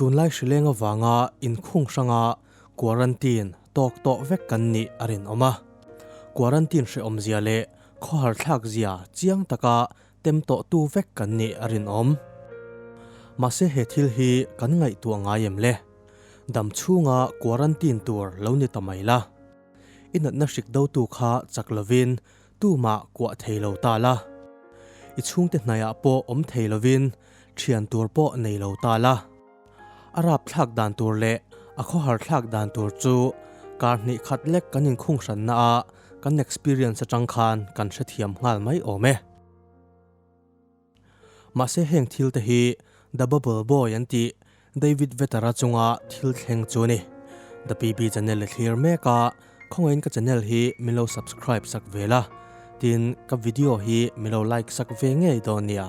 Tunlai hrileng avanga inkhung hranga quarantine tawk tawh vek kan nih a rinawm a. Quarantine hrehawmzia leh khawharthlakzia chiang taka tem tawhtu vek kan nih a rinawm. Mahse he thil hi kan ngaihtuah ngai em le? Dam chhunga quarantine tur lo ni ta mai la. I natna hrik dotu kha chak lovin tumah kuah thei lo ta la, i chhungte hnaiah pawh awm thei lovin thian tur pawh nei lo ta la. A rapthlak dan tur leh a khawharthlak dan tur chu kar hnih khat lek kan inkhunghranna ah kan experience atang khan kan hrethiam nghal mai awm e. Mahse heng thil te hi The Bubble Boy an tih David Vetter-a chunga thil thleng chu a ni. The PB channel a thlir mek a, khawngaiin ka channel hi min lo subscribe sak ve la, tin ka video hi min lo like sak ve ngei dawn nia.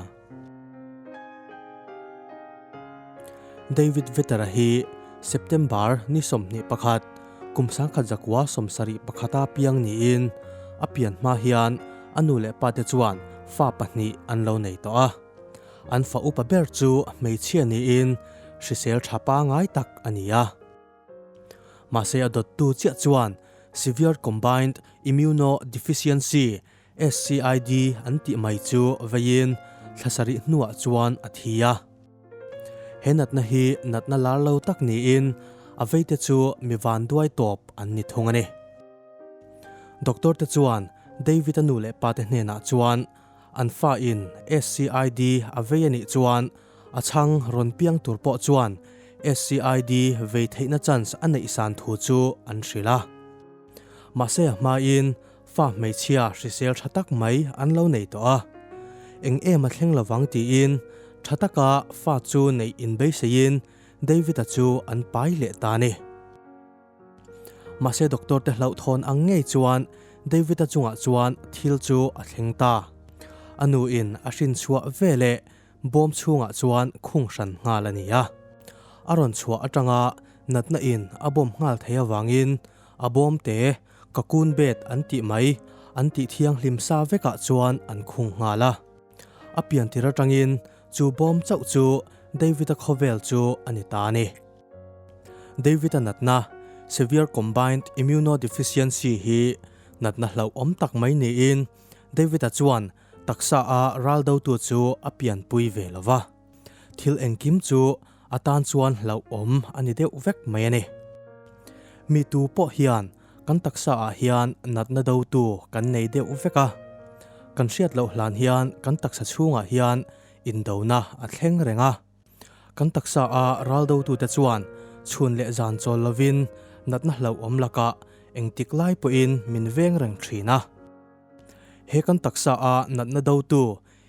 David Vetter-a hi September ni sawmhnih pakhat, kum sangkhat zakua sawm sarih pakhata piang niin a pian hma hian a nu leh pate chuan fa pahnih an lo nei tawh a. An fa upa ber chu hmeichhia niin hrisel tha pangai tak a ni a. Mahse a dawttu chiah chuan Severe Combined Immunodeficiency, SCID an tih mai chu veiin thla sarih hnuah chuan a thi a. He natna hi natna lar lo tak niin a veite chu mi van duai tawp an ni thung a ni. Doctor te chuan David a nu leh pa te hnenah chuan an fa in SCID a vei a nih chuan a chhang rawn piang tur pawh chuan SCID vei theihna chance a neih san thu chu an hrilh a. Mahse a hmain Fa hmeichhia hrisel tha tak mai an lo nei tawh a, eng em a thleng lovang tiin tha taka fa chu neih in beiseiin Davida chu an pai leh ta ni. Mahse doctor te hlauh thawn ang ngei chuan Davida chungah chuan thil chu a thleng ta. A nu in a hrin chhuah ve leh bawm chhungah chuan khung hran nghal a ni a. A rawn chhuah atanga natna in a bawm nghal thei avangin a bawmte Ka kun bet an tih mai, an tih thianghlim sa vekah chuan an khung nghal a. A piantir atangin chu bawm chauh chu David-a khawvel chu a ni ta a ni. David-a natna, Severe Combined Immunodeficiency, hi natna hlauhawm tak mai niin David-a chuan taksa a raldotu chu a pianpui ve lo va. Thil engkim chu a tan chuan hlauhawm a ni deuh vek mai a ni. Mi tu pawh hian kan taksa ah hian natna do tu kan nei deuh vek a, kan hriat loh hlan hian kan taksa chhung ah hian in do na a thleng reng a. Kan taksa a ral do tu te chuan chhun leh zan chawl lo in natna hlauhawm lak ah engtik lai pawh in min veng reng thin a. He kan taksa a natna do tu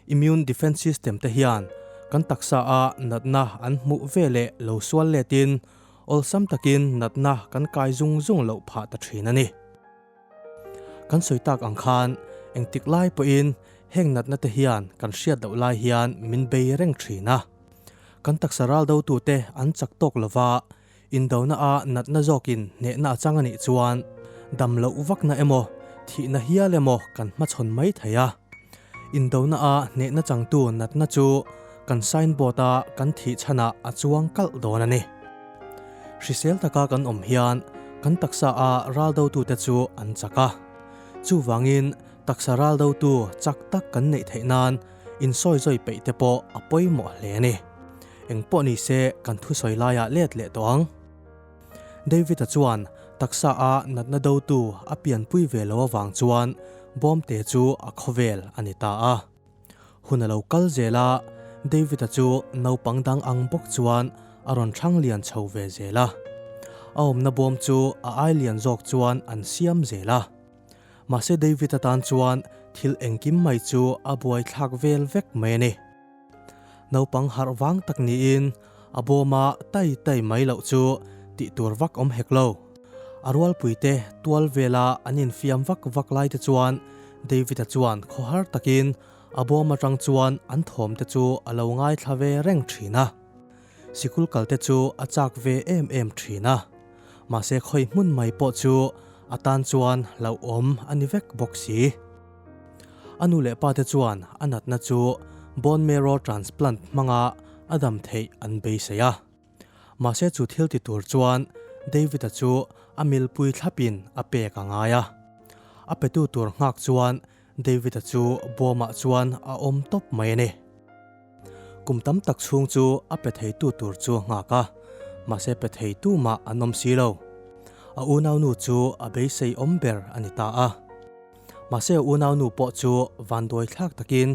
immune defence system, te hian kan taksa a natna an hmuh ve leh lo sual letin awlsam takin natna kan kai zung zung loh phah ta thin a ni. Kan sawi tak ang khan engtik lai pawhin heng natna te hian kan hriat loh lai hian min bei reng thin a. Kan taksa raldo tute an chak tawk lova Indona a natna zawkin hnehna a chang a nih chuan dam loh vakna emaw, thihna hial emaw kan hmachhawn mai thei a. Indona a hnehna changtu natna chu kan signboard a kan thih chhanah a chuang kalh dawn a ni. Hrisel taka kan awm hian kan taksa a ral dotute chu an chak a. Chuvangin taksa ral dotu chak tak kan neih theih nan, insawi zawi peih te pawh a pawimawh hle a ni. Engpawh ni se kan thusawi laia let leh tawh ang. Davida chuan taksa a natna dotu a pianpui ve lo avang chuan bawmte chu a khawvel a ni ta a. Hun a lo kal zel a, Davida chu naupang dang ang bawk chuan a rawn thrang lian chho ve zel a. A awmna bawm chu a ai lian zawk chuan an siam zel a. Mahse David atan chuan thil engkim mai chu a buaithlak vel vek mai a ni. Naupang harh vang tak niin a bawma tai tai mai loh chu tih tur vak awm hek lo. A rualpuite tual vela an infiam vak vak lai te chuan David-a chuan khaw har takin a bawm atang chuan an thawmte chu a lo ngaithla ve reng thin a. Sikul kalte chu a chak ve em em thin a, mahse khawi hmun mai pawh chu a tan chuan lo awm a ni vek bawk si. A nu leh pa te chuan a natna chu bone marrow transplant hmanga a dam theih an beisei a. Mahse chu thil ti tur chuan David-a chu a milpui thlapin a pek a ngai a. A petu tur nghak chuan Davida chu Bawmah chuan a awm tawp mai a ni. Kum tam tak chhung chu a pe theitu tur chu a nghak a, mahse pe theitu mah an awm si lo. A unaunu chu a beisei awm ber a ni ta a. Mahse a unaunu pawh chu vanduaithlak takin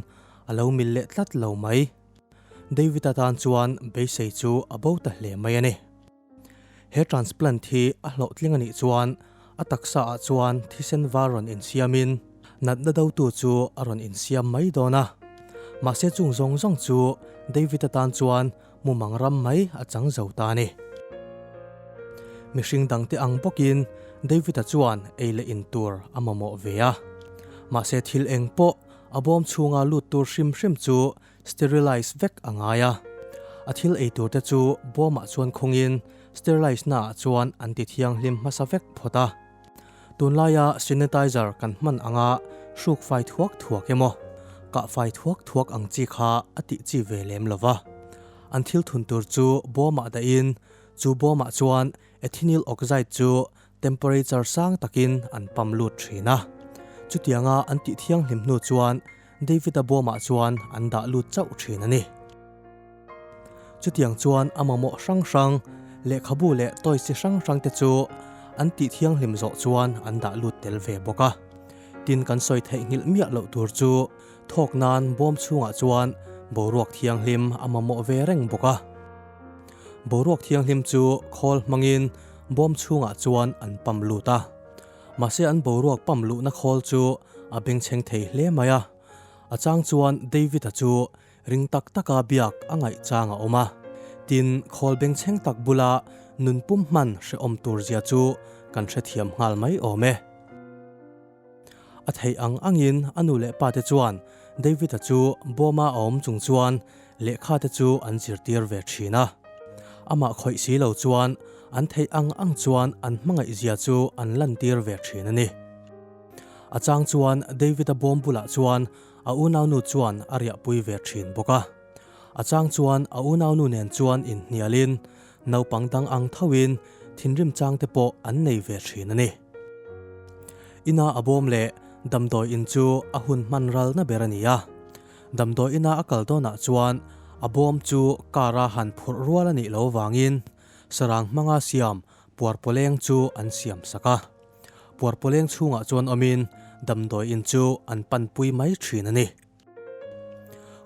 a lo mil leh tlat lo mai. Davida tan chuan beisei chu a bo ta hle mai a ni. He transplant hi a hlawhtling a nih chuan a taksa ah chuan thisen var rawn insiam in natna do tu chu a rawn insiam mai dawn a. Mahse chung zawng zawng chu David atan chuan mumang ram mai a chang zo ta ni. Mihring dang te ang bawk in David a chuan ei leh in tur a mamawh ve a. Mahse thil eng pawh a bawm chhunga lut tur hrim hrim chu sterilize vek a ngai a. A thil ei tur te chu Bawmah chuan khungin sterilize naah chuan an tithianghlim hmasa vek phawt a. Tunlaia sanitizer kan hman anga hruk fai thuak thuak emaw, kah fai thuak thuak ang chi kha a tih chi ve lem lo va. An thil thun tur chu Bawmah dahin chu Bawmah chuan ethinyl oxide chu Temperature sang takin an pump lut thin a. Chutianga an tih thianghlim hnu chuan David-a bawmah chuan an dah lut chauh thin a ni. Chutiang chuan a mamawh hrang hrang, lehkhabu leh toys-i hrang hrang te chu an tih thianghlim zawh chuan an dah lut tel ve bawk a. Tin kan sawi theih nghilh miah loh tur chu thawk nan bawm chhungah chuan boruak thianghlim a mamawh ve reng bawk a. Boruak thianghlim chu khawl hmangin bawm chhungah chuan an pump lut a, mahse an boruak pump luhna khawl chu a bengchheng thei hle mai a. A chang chuan Davida chu ring tak taka biak a ngaih chang a awm a, tin, khawl bengchheng tak bula nunpum hman hrehawm turzia chu kan hrethiam nghal mai awm e. A theih ang angin a nu leh pa te chuan Davida chu bawma a awm chung chuan lehkha te chu an zirtir ve thin a. Amah khawih si lo chuan an theih ang ang chuan an hmangaihzia chu an lantir ve thin a ni. A chang chuan Davida bawm bulah chuan a unaunu chuan a riahpui ve thin bawk a. A chang chuan a unaunu nen chuan inhnialin Naupang dang ang thauhin thinrim chang te pawh an nei ve thin a ni. Ina a bawm leh damdawi in chu a hun hmanralna ber a ni a. Damdawi ina a kal dawnah chuan a bawm chu car a han phurh rual a nih loh avangin sarang hmanga siam Puarpawleng chu an siam sak a. Puarpawleng chhungah chuan awmin damdawi in chu an panpui mai thin a ni.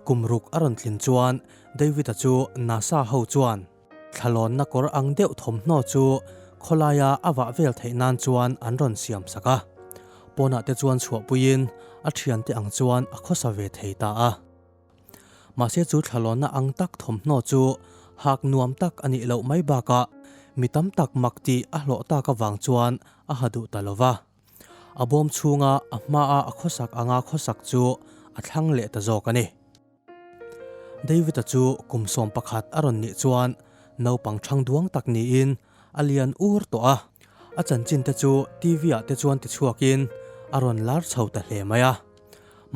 Kum ruk a rawn tlin chuan Davida chu nasa ho chuan thlalawnna kawr ang deuh thawmhnaw chu khawlaia a vah vel theih nan chuan an rawn siam sak a. Pawnah te chuan chhuahpuiin a thiante ang chuan a khawsa ve thei ta a. Mahse chu thlalawnna ang tak thawmhnaw chu hak nuam tak a nih loh mai bakah mi tam tak mak tih a hlawh tak avang chuan a ha duh ta lo va. A bawm chhunga a hmaa a khawsak anga khawsak chu a thlang leh ta zawk a ni. Davida chu kum sawm pakhat a rawn nih chuan naupang chhang duang tak niin a lian ur tawh a. A chanchin te chu TV ah te chuan ti chhuakin a rawn lar chho ta hle mai a.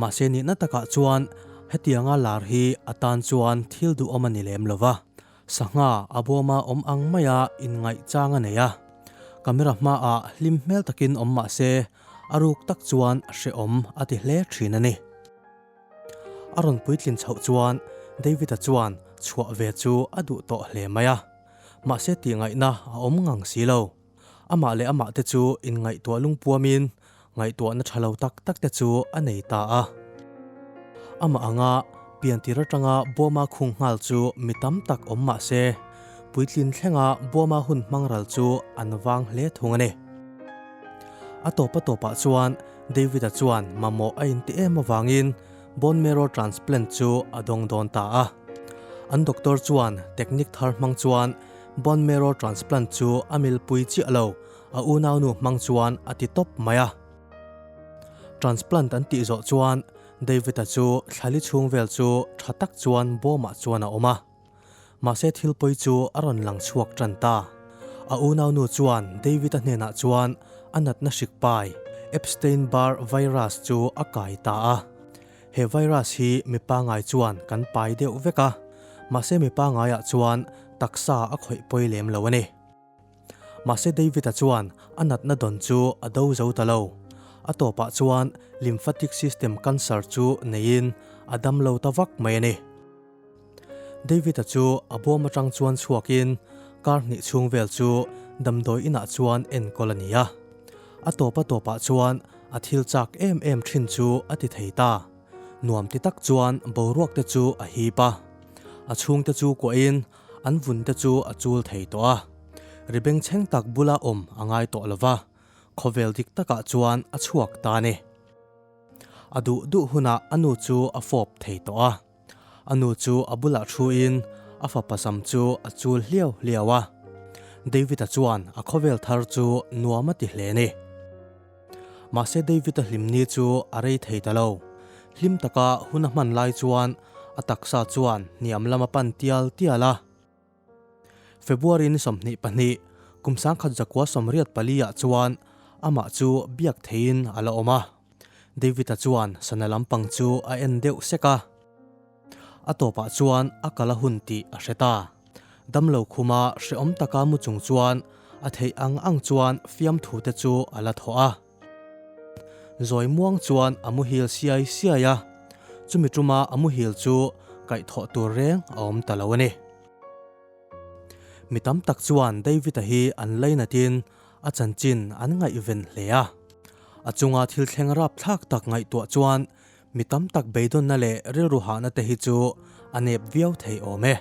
Mahse nihna takah chuan hetianga lar hi atan chuan thil duhawm a ni lem lo va. Sangha a bawma awm ang maia in ngaih chang a nei a. Camera hmaah hlim hmel takin awm mahse a ruk tak chuan a hrehawm a ti hle thin a ni. A rawn puitlin chhoh chuan David-a chuan chhuah ve chu a duh tawh hle mai a. Mahse tihngaihna a awm ngang si lo. Amah leh amah te chu inngaihtuah lungpuamin ngaihtuahna tha lo tak tak te chu a nei ta a. Amah anga piantir atanga Burma khung nghal chu mi tam tak awm mah se, puitlin thlenga Burma hun hmang ral chu an vang hle thung a ni. A tawp a tawpah chuan David-a chuan mamawh a inti em avangin bone marrow transplant chu a dawng dawn ta a. An doctor chuan technique thar hmang chuan Bone marrow transplant chu a milpui chiah lo, a unaunu hmang chuan a ti tawp mai a. Transplant an tih zawh chuan David-a chu thlali chhung vel chu tha tak chuan bawmah chuan a awm a. Mahse thil pawi chu a rawn lang chhuak tan ta. A unaunu chuan David-a hnenah chuan a natna hrik pai, Epstein-Barr virus, chu a kai ta a. He virus hi mi pangai chuan kan pai deuh vek a, mahse mi pangaiah chuan taksa a khawih pawi lem lo a ni. Mahse David-a chuan a natna dawn chu a do zo ta lo. A tawpah chuan lymphatic system cancer chu neiin a dam lo ta vak mai a ni. Davida chu a bawm atang chuan chhuakin kar hnih chhung vel chu damdawi inah chuan enkawl a ni a. A tawpa tawpah chuan a thil chak em em thin chu a ti thei ta. Nuam ti tak chuan boruak te chu a hip a, a chhung te chu kuahin an vun te chu a chul thei tawh a. Ri bengchheng tak bula awm a ngai tawh lo va, khawvel dik takah chuan a chhuak ta a ni. A duh duh hunah a nu chu a fawp thei tawh a. A nu chu a bulah thu in a fapa sam chu a chul hliau hliau a. Davida chuan a khawvel thar chu nuam a ti hle ni. Mahse Davida hlimni chu a rei thei ta lo. Hlim taka hun a hman lai chuan a taksa chuan hniam lama pan tial tial a. February ni sawmhnih pahnih, kum sangkhat zakua sawmriat pali ah chuan amah chu biak theiin a la awm a. David a chuan sana lampang chu a en deuh sek a. A tawpah chuan a kal a hun tih a hre ta. Damlo khuma hrehawm taka mu chung chuan a theih ang ang chuan fiamthute chu a la thawh a. Zawimuang chuan a muhil siai siai a, chumi tuma a muhil chu kaih thawh tur reng a awm ta lo a ni. Mi tam tak chuan David-a hi an lainatin a chanchin an ngaihven hle a. A chunga thil thleng rapthlak tak ngaihtuah chuan mi tam tak beidawnna leh rilru hahna te hi chu a nep viau thei awm e.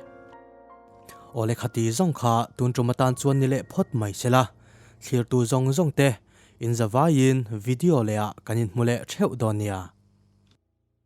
Aw le khati zawng kha tun tum atan chuan ni leh phawt mai se la, thlirtu zawng zawng te Inzavaiin video leh ah kan inhmu leh theuh dawn nia.